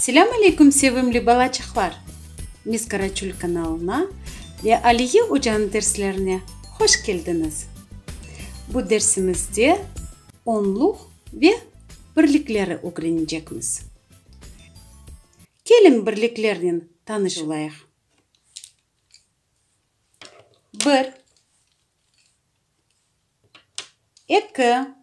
Selâm aleyküm sevimli balaçıqlar! Mis Karaçul kanalına ve Aliye ocanıñ derslerine hoş keldiñiz! Bu dersimizde onluq ve birlikleri ögrenecekmiz. Keliñ birliklernen tanış olayıq. Bir, eki.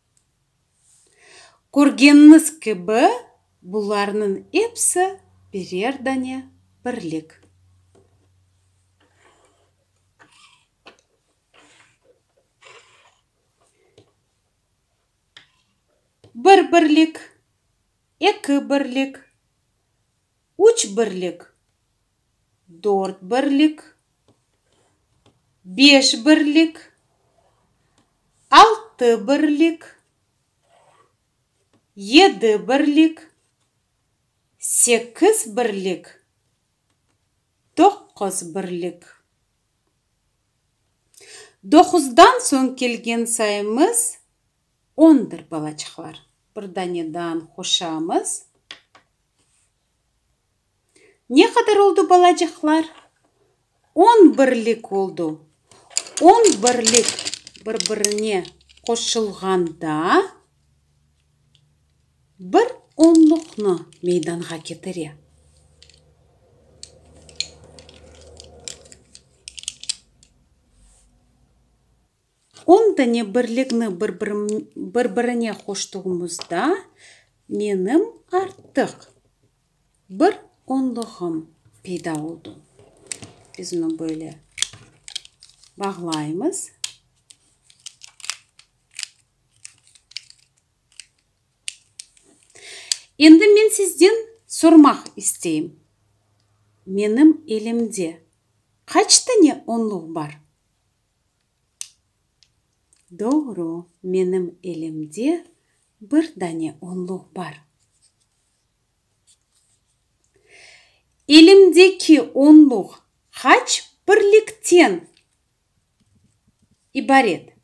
Körgeniñiz kibi, bularnıñ episi birer dane birlik. Bir birlik, eki birlik, üç birlik, dört birlik, beş birlik, altı birlik, yedi birlik, sekiz birlik, doqquz birlik. Doquzdan soñ kelgen sayımız Ondır balaçıqlar. Bir danedan qoşamız. Ne qadar oldu balacıqlar? On birlik oldu. On birlik bir-birine qoşulğanda bir onluqnı meydanğa ketire. Onda ne birlikni bir-birine qoştuğımızda menim artıq bir onluğım peyda oldu. Biz onı böyle bağlaymız. Endi men sizden sormaq isteyim, menim elimde qaç tane onluq bar? Doğru, menim elimde bir dane onluq bar. Elimdeki onluq qaç birlikten ibaret?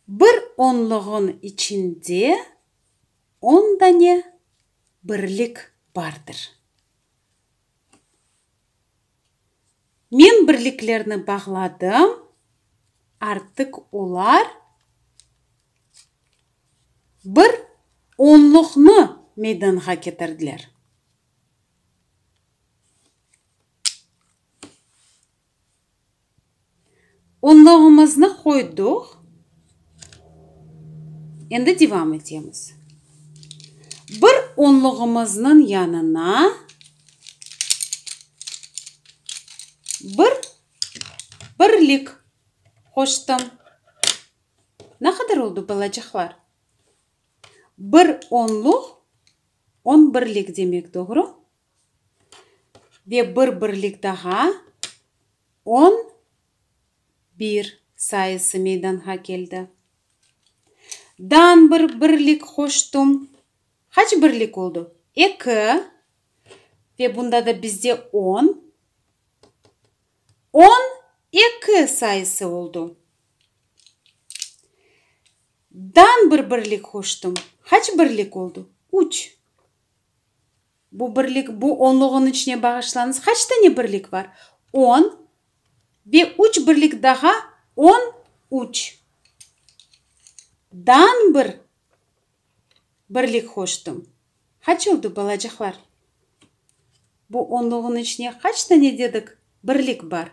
Bir onluğın içinde on dane birlik bardır. Men birliklerni bağladım, artıq olar bir onluqnı meydanğa ketirdiler. Onluğımıznı qoydıq, endi devam etemiz. Bir onluğımıznıñ yanına bir birlik qoştım. Ne qadar oldu, balacıqlar? Bir onluq, on birlik demek, doğru? Ve bir birlik daha on bir sayısı meydanğa keldi. Dan bir birlik qoştum. Qaç birlik oldu? Eki. Ve bunda da bizde on. On eki sayısı oldu. Dan bir birlik qoştum. Qaç birlik oldu? Üç. Bu birlik, bu onluğın içine bağışlañız, qaç tane birlik bar? On ve üç birlik daha, on üç. Dan bir birlik qoştum. Qaç oldu, balacıqlar? Bu onluğın içine qaç tane dedik birlik bar?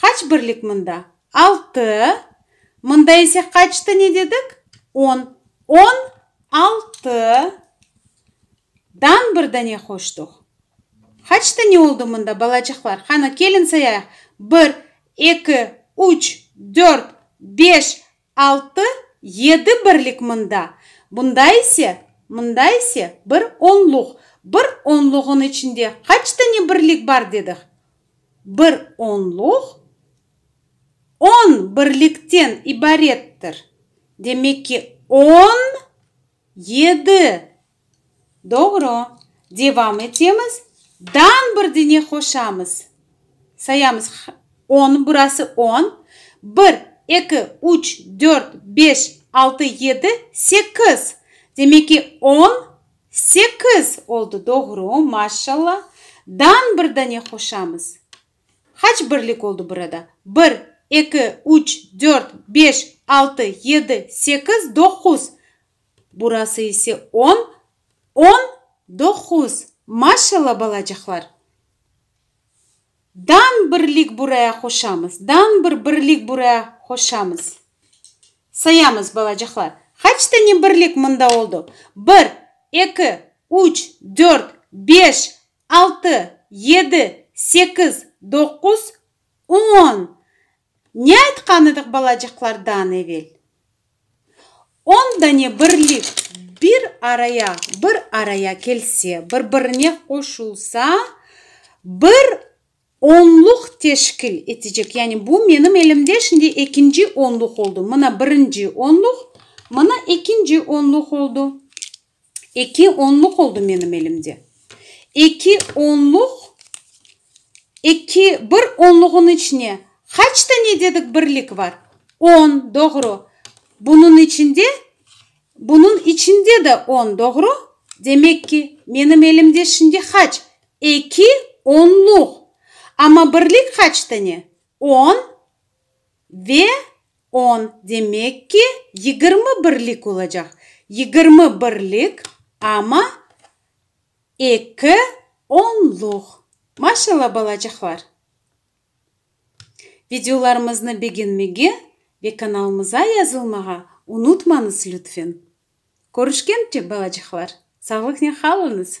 Qaç birlik mında? Altı. Mında ise qaçtı ne dedik? On. On altı dan bir dane qoştuq. Qaç dane oldu mında, balacıqlar? Qanı, kelin sayayıq. Bir, eki, üç, dört, beş, Altı, yedi birlik mında, bunda ise, mında ise bir onluq, bir onluğın içinde qaç tane birlik bar dedik? Bir onluq on birlikten ibarettir. Demek ki, on yedi Doğru. Devam etemiz. Dan bir dene qoşamız. Sayamız. On, burası on. Bir, eki, üç, dört, beş, altı, yedi, sekiz. Demek ki, on, sekiz oldu. Doğru. Maşşalla. Dan bir dane qoşamız. Qaç birlik oldu burada? Bir, eki, üç, dört, beş, altı, yedi, sekiz, doquz. Burası ise on, on doquz. Maşalla, balacıqlar! Dan birlik buraya qoşamız, dan bir birlik buraya qoşamız. Sayamız, balacıqlar. Qaç tane birlik mında oldu? Bir, eki, üç, dört, beş, altı, yedi, sekiz, doquz, on. Ne aytqan edik balacıqlardan evel? On dane birlik bir araya, bir araya kelse, bir-birine qoşulsa, bir onluq teşkil etecek. Yani bu menim elimde şimdi ekinci onluq oldu. Mına birinci onluq, mına ekinci onluq oldu. Eki onluq oldı menim elimde. Eki onluq, eki, bir onluğın içine qaç tane dedik birlik var? On, doğru. Bunıñ içinde, bunıñ içinde de on, doğru. Demek ki, menim elimde şimdi qaç? Eki onluq. Amma birlik qaç tane? On. Ve on, demek ki, yigirmi birlik olacaq. Yigirmi birlik, amma eki onluq. Maşallah, balacıqlar! Videolarımıznı begenmege ve kanalımıza yazılmağa unutmañız, lütfen! Körüşkençe, balacıqlar, sağlıqnen qalıñız!